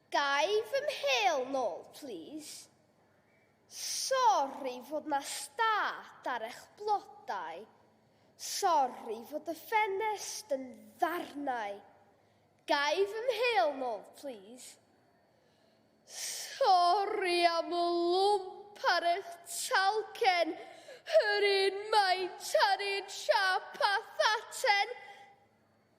Gai fy mhêl nôl plîs? Sori fod 'na stad ar eich blodau. Sori fod y ffenest yn ddarnau. Gai fy mhêl nôl plîs? Sori am y lwmp ar eich talcen, yr un maint a'r un siâp â thaten.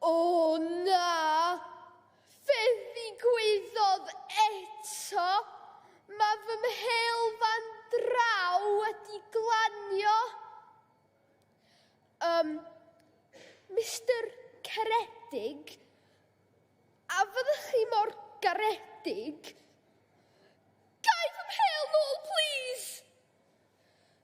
O na! Fe ddigwyddodd eto! Mae fy mhêl fan draw wedi glanio! Um, Mister Caredig, a fyddech chi mor garedig? Gai fy mhêl nôl, plîs?